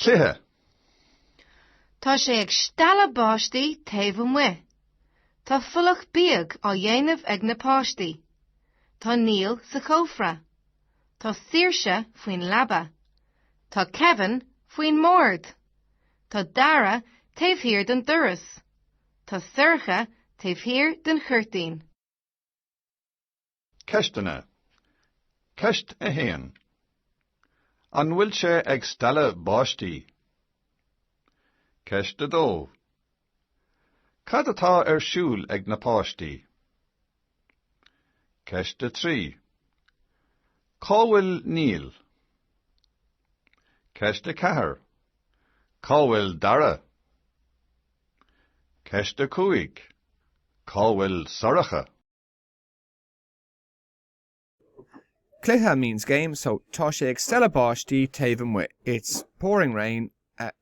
cluiche. Tá sé ag stealladh báistí taobh amuigh. Tá folach bíog á dhéanamh ag na páistí. Tá Neil sa chófra. Tá Saoirse faoin leaba. Tá Kevin faoin mbord. Tá Dara taobh thiar den doras. Tá Sorcha taobh thiar den chuirtín. Ceisteanna. Ceist 1. An bhfuil sé ag stealladh báistí? Ceist 2. Cad atá ar siúl ag na páistí? Ceist 3. Cá bhfuil Neil? Ceist 4. Cá bhfuil Dara? Ceist 5 Cá bhfuil Sorcha? Cluiche means game, so Tá sé ag stealladh báistí taobh amuigh. It's pouring rain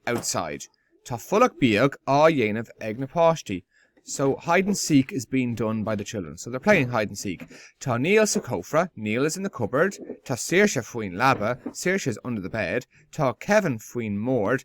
outside. Tá folach bíog á dhéanamh ag na páistí. So Hide and seek is being done by the children. So they're playing hide and seek. Tá Neil sa chófra. Neil is in the cupboard. Tá Saoirse faoin leaba. Saoirse is under the bed. Tá Kevin faoin mbord.